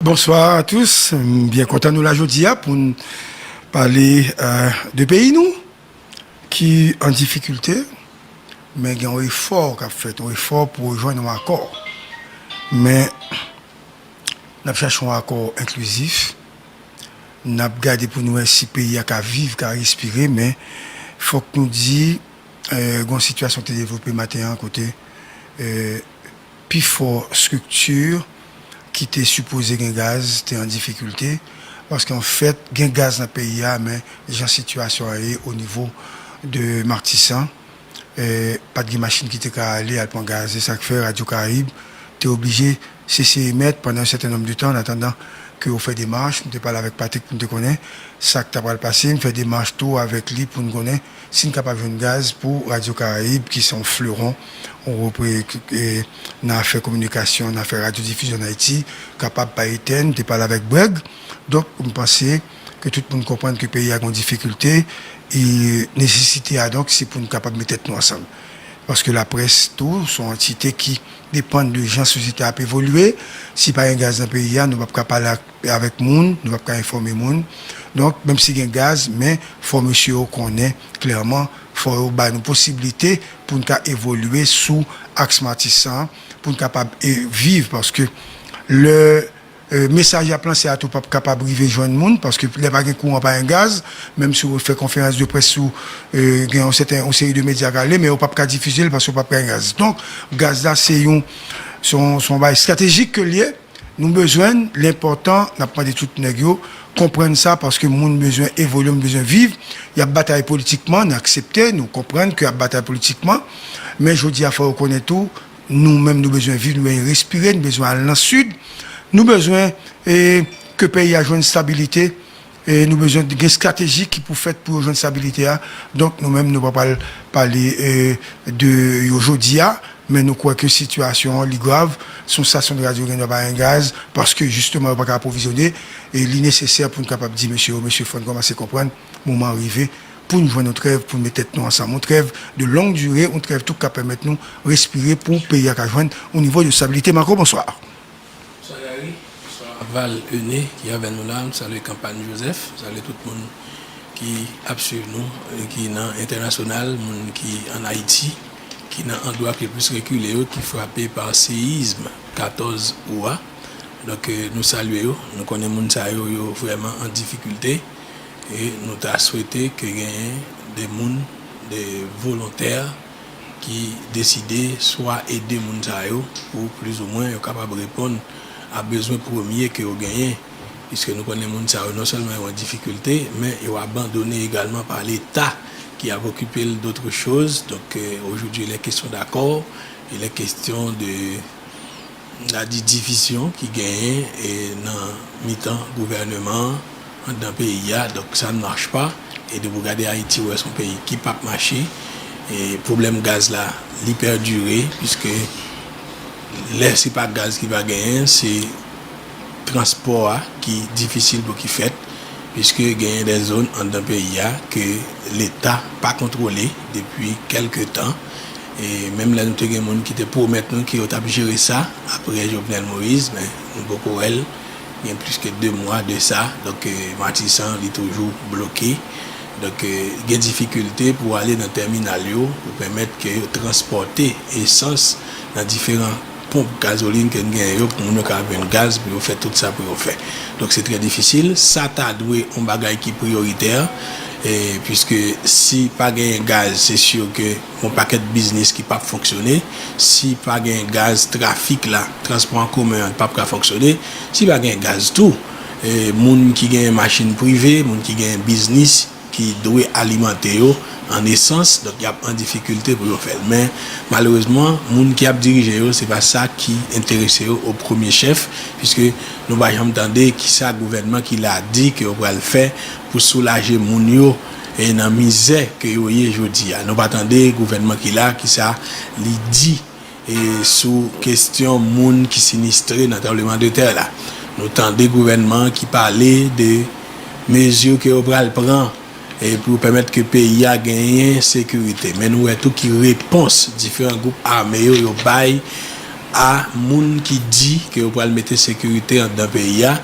Bonsoir a tous, m byen kontan nou la jodi a pou n pale de peyi nou ki an difikilte men gen yon efò k ap fèt, yon efò pou yo jwenn yon akò men n ap chache yon akò enklizif n ap gade pou nou wè si peyi a ka viv, ka respire men fòk nou di gen yon sitiyasyon ki te devlope maten an kote. Pifò strikti ki te sipoze gen gaz te an difikilte, paske an fèt gen gaz nan peyi a men jan sitiyasyon an ye o nivo de Martissant, pa t gen machin ki te ka ale al pran gaz. Se sa k fè Radyo Karayib te oblije sese emèt pandan yon sèten nonb de tan annatandan ke yo fè demach. M te pale avèk Patrick pou m te konnen sa k ta pral pase. M fè demach tou avèk li pou n konnen. Si n kapab jwenn gaz pou Radyo Karayib ki se yon fleuron nan afè kominikasyon, nan afè radyodifizyon an Ayiti, kapab pa etèn, te pale avèk Breg. Donk, m panse ke tout moun konprann ke peyi a gen yon difikilte. Nesesite a donk se pou n kapab met tèt nou ansanm. Paske laprès tou se yon antite ki depann de jan sosyete a ap evolye. Si pa gen gaz nan peyi a, nou p ap ka pale ak E avèk moun, nou pap ka enfòme moun. Donk, menm si gen gaz, men fò mesye yo konnen klèman, fò yo bay nou posiblite pou n ka evolye sou aks Matisan, pou n kapab viv. Paske lè mesaj y ap lanse a tou pap kapab rive jwenn moun, paske lè pa gen kouran, pa gen gaz, menm si w fè konferans de près sou, gen yon sèten, yon seri de medya k ale, men yo pap ka difize l paske yo pap ka gen gaz. Donk, gaz la se yon, se yon bagay estratejik ke l ye. Nou bezwen l, l enpòtan, n ap mande tout nèg yo konprann sa paske moun bezwen evolye, moun bezwen viv, y ap batay politikman, n aksepte, nou konprann ke y ap batay politikman men jodi a fò yo konnen tou nou menm nou bezwen viv, nou bezwen respire, nou bezwen al nan sid, nou bezwen ke peyi a jwenn stabilite. E nou bezwen gen strateji ki pou fèt pou yo jwenn stabilite a. Donk nou menm nou pa pral pale de yo jodi a, men nou kwè ke sitiyasyon an li grav. Se yon stasyon de radyo gen dwa pa gen gaz, paske jisteman yo pa ka apwovizyone. E li nesesè pou n kapab di mesye yo, mesye fò n kòmanse konprann moman an rive pou n jwenn yon trèv, pou n met tèt nou ansanm. Yon trèv de long dure, yon trèv tou k ka pèmèt nou respire pou peyi a ka jwenn yon nivo de stabilite. Marco, bonswa. Bonswa Gary, bonswa Val Euné ki avè nou la, m salye Kanpany Joseph, m salye tout moun ki ap swiv nou ki nan entènasyonal, moun ki an Ayiti, ki nan andwa ki plis rekile yo, ki frape pa seyizm 14 Août a. Donk nou salye yo, nou konnen moun sa yo, yo vrèman an difikilte e nou ta swete ke genyen de moun, de volontè. ki deside swa ede moun sa yo pou plizoumwen yo kapab reponn a bezwen premye ke yo genyen, piske nou konnen moun sa yo non sèlman yo an difikilte, men yo abandone egalman pa leta ki ap okipe l dotre choz, donk ojoudwi il è kestyon dakò, il è kestyon de. Na di divisyon ki genyen nan mitan gouvèneman an, anndan peyi a, donk sa n mach pa. E depi w gade Ayiti, w wè se yon peyi ki pap mache. E pwoblèm gaz la, li pèdire, piske lè se pa gaz ki pa genyen, se transpò a ki difisil pou ki fèt, piske genyen dè zòn anndan peyi a ke Leta pa kontwole depi kèlke tan. E menm lè nou te gen moun ki te pwomèt nou ke yo tap jere sa apre Jovenel Moïse men nou poko wèl gen plis ke 2 mwa de sa donk Matisan li toujou bloke donk gen difikilte pou ale nan tèminal yo pou pèmèt ke yo transpòte esans nan diferan ponp gazolin ke n genyen yo pou moun yo ka jwenn gaz pou yo fè tout sa pou yo fè donk se trè difisil sa ta dwe yon bagay ki priyoritè e pwiske si pa genyen gaz se sur ke. Gon pakèt biznis ki pap fonksyone, si pa gen gaz trafik la, transpò an komen an pap ka fonksyone, si pa gen gaz tou moun ki gen machin prive, moun ki gen biznis ki dwe alimante yo an esans donk yap an difikilte pou yo fèl men malerezman moun ki ap dirije yo se pa sa ki enterese yo o premye chèf piske nou pa janm tande kisa gouvènman ki la di ke yo pral fè pou soulaje moun yo. e nan mizè ke yo ye jodi a. Nou pa tande gouvènman ki la ki sa li di e sou kestyon moun ki sinistre nan tranbleman de tè la. Nou tande gouvènman ki pale de mezi ke yo pral pran e pou yo pèmèt ke peyi a genyen sekirite. Men nou wè tou ki repons diferan gwoup ame yo yo bay a moun ki di ke yo pral mete sekirite andan peyi a.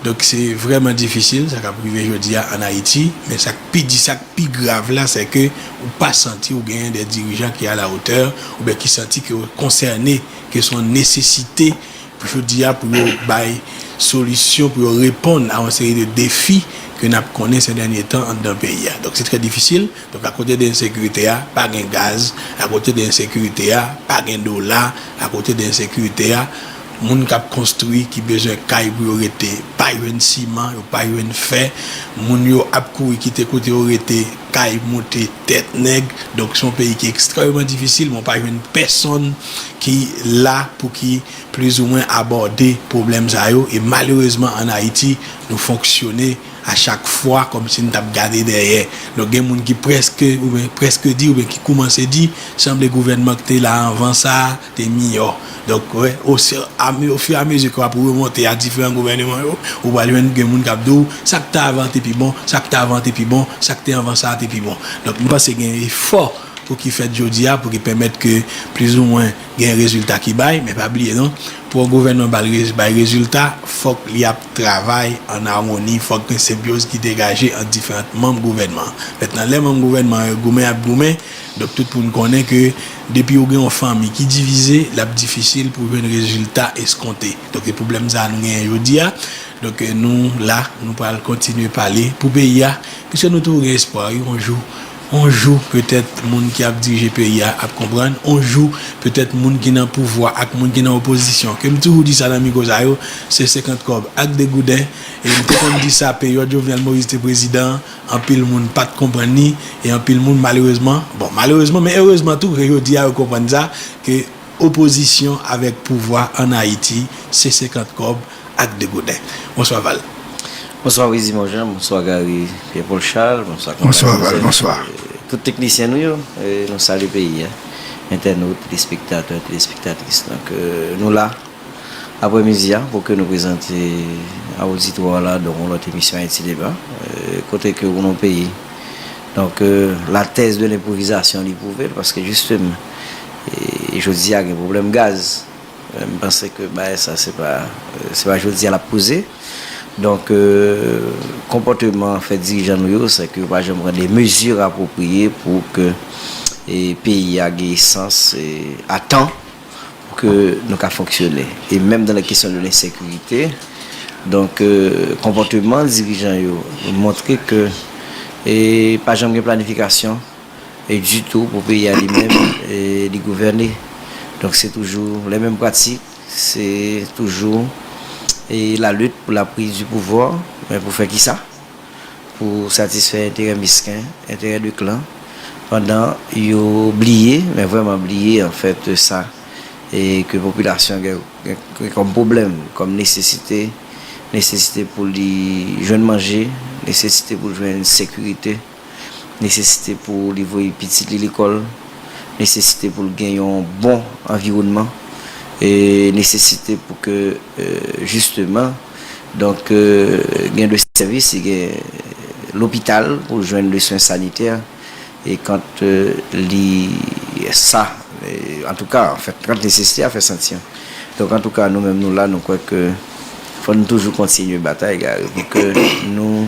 Donk se vrèman difisil sa k ap rive jodi a ann Ayiti, men sa k pi di, sa k pi grav la sè ke ou pa santi ou genyen dè dirijan ki alawotè oubyen ki santi ke yo konsène, ke se yon nesesite pou jodi a pou yo bay solisyon, pou yo reponn a yon seri de defi ke n ap konnen sè dènye tan anndan peyi a. Donk se trè difisil. Donk akote de ensekirite a, pa gen gaz, akote de ensekirite a, pa gen dola, akote de ensekirite a, Moun kap konstri ki bezwen kay pou yo rete pa jwenn siman, yo pa jwenn fè, moun yo ap kouri kite kote yo rete, kay moute tèt nèg, donk son peyi ki ekstrèmeman difisil men w pa jwenn pèsonn ki la pou ki plizoumwen abòde pwoblèm sa yo e malerezman an Ayiti nou fonksyone A chak fwa kòm si n t ap gade dèyè. Donk gen moun ki prèske oubyen prèske di oubyen ki koumanse di sanble gouvènman k te la anvan sa a te miyò. Donk wè osi ame ofiramezi ke w ap remonte a diferan gouvèneman yo, ou pral jwenn gen moun k ap di w sa k te avan an te pi bon, sa k te avan an te pi bon, sa k te anvan sa a te pi bon. Donk m panse gen efò pou ki fèt jodi a pou ki pèmèt ke plizoumwen. Gen rezilta ki bay, men pa bliye non, pou yon gouvènman bay rezilta, fòk li ap travay ann amoni, fòk gen senbyoz ki degaje ant diferant manm gouvènman an. Mentnan, lè manm gouvènman an yo goumen y ap goumen, donk tout moun konnen ke depi ou gen yon fanmi ki divize, l ap difisil pou jwenn rezilta eskonte. Donk e pwoblèm sa a nou genyen jodi a. Donk nou la, nou pral kontinye pale pou peyi a, piske nou toujou gen espwa wi yon jou, On jou, petèt, moun ki ap dirije peyi a ap konprann. On jou, petèt, moun ki nan pouvwa ak moun ki nan opozisyon, ke m toujou di sa nan mikwo sa yo, se senkant kòb ak degouden. E m te konn di sa peryòd Jovenel Moïse te prezidan an, anpil moun pa t konprann li e anpil moun malerezman, bon, malerezman men erezman tou ke jodi a yo konprann sa, ke. Opozisyon avèk pouvwa an Ayiti se 50 kòb ak degouden. Bonswa Val. Bonswa Wizimon Jean, bonswa Gary Pierre Paul Charles, bonswa Konrad Joseph. Bonswa Val, bonswa. Tout teknisyen nou yo, nou salye peyi a. Entènot, telespektatè, telespektatris. Donk nou la aprè midi a pou ke nou prezante a oditwa la donk yon lòt emisyon Ayiti Deba. Kote ke ou nan yon peyi donk la tèz de lenpwovizasyon li pwouve l paske jisteman. e jodi a gen pwoblèm gaz m panse ke bagay sa se pa se pa jodi a lap poze donk konpòteman fè dirijan nou yo se ke yo pa janm pran de mezi apwopriye pou ke e peyi a gen esans e a tan pou ke nou ka fonksyone e menm dan lè kesyon de lensekirite donk konpòteman dirijan yo montre ke e pa janm gen planifikasyon. e ditou pou peyi a li menm li gouvène donk se toujou lè menm pratik se toujou e la lit pou la priz di pouvwa men pou fè kisa pou satisfè enterè misken enterè de klan pandan yo bliye men vrèman bliye an fèt sa e ke popilasyon gen kòm pwoblèm kòm nesesite nesesite pou li jwenn manje nesesite pou jwenn sekirite. nesesite pou li voye pitit li lekòl, nesesite pou l gen yon bon anviwònman, nesesite pou ke jisteman donk gen de sèvis si gen lopital pou l jwenn de swen sanitè e kant li sa antouka kant nesesite a fè santi an. Donk antouka nou menm nou la nou kwè ke fò n toujou kontinye batay Gary pou ke nou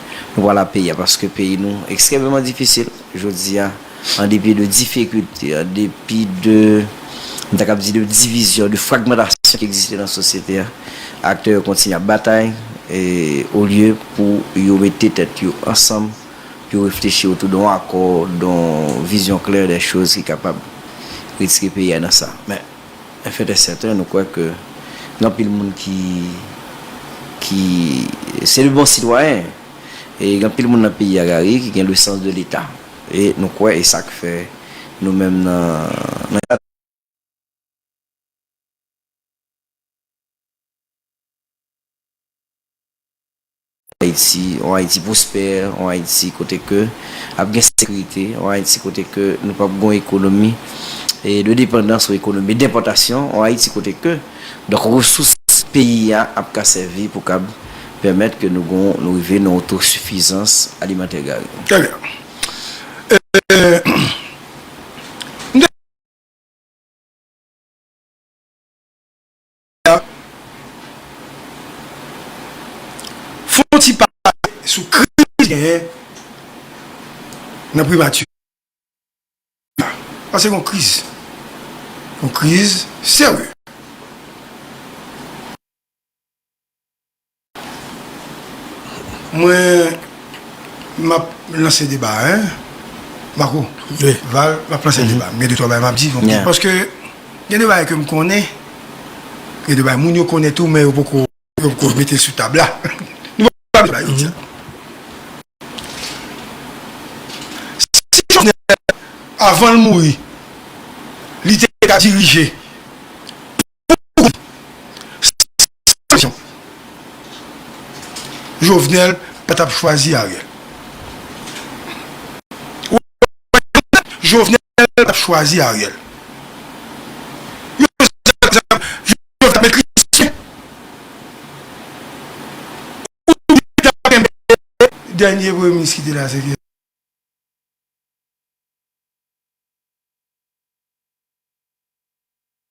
Nou pral ap peye paske peyi nou ekstrèmeman difisil jodi a, an depi de difikulte, an depi de, m ta kab di de divizyon, de fragmantasyon ki egziste nan sosyete a. Aktè yo kontinye ap batay olye pou yo mete tèt yo ansanm pou yo reflechi otou don akò, don vizyon klè dè choz ki kapab retire peyi a nan sa. F et est certain nou kwè ke gen anpil moun ki ki se de bon sitwayen e gen anpil moun nan peyi a Garry ki gen le sens de leta e nou kwè e sa k fè nou menm nan nan kad Ayiti, yon Ayiti pwospè, yon Ayiti kote ke ap gen sekirite, yon Ayiti kote ke nou p ap gen yon ekonomi de depandans ou ekonomi denpòtasyon, yon Ayiti kote ke donk resous peyi a ap ka sèvi pou kab pèmèt ke nou gen nou rive nan yon otosifizans alimantè Gary. Trè byen. M te. a fon ti pale sou kriz ki genyen nan primati a. Sa se yon kriz, yon kriz serye. Mwen map lanse deba a. Mako, Val, map lanse deba a. Mwen gen de twa bagay map di. Paske gen de bagay ke m konnen, gen de bagay moun yo konnen tou men yo poko mete sou tab la. Nou pa bezwen pale de sa. Si Jovenel avan l mouri, li te ka dirije. Jovenel pa tap chwazi Ariel. Jovenel pa tap chwazi Ariel. Dènye premye minis ki te la se.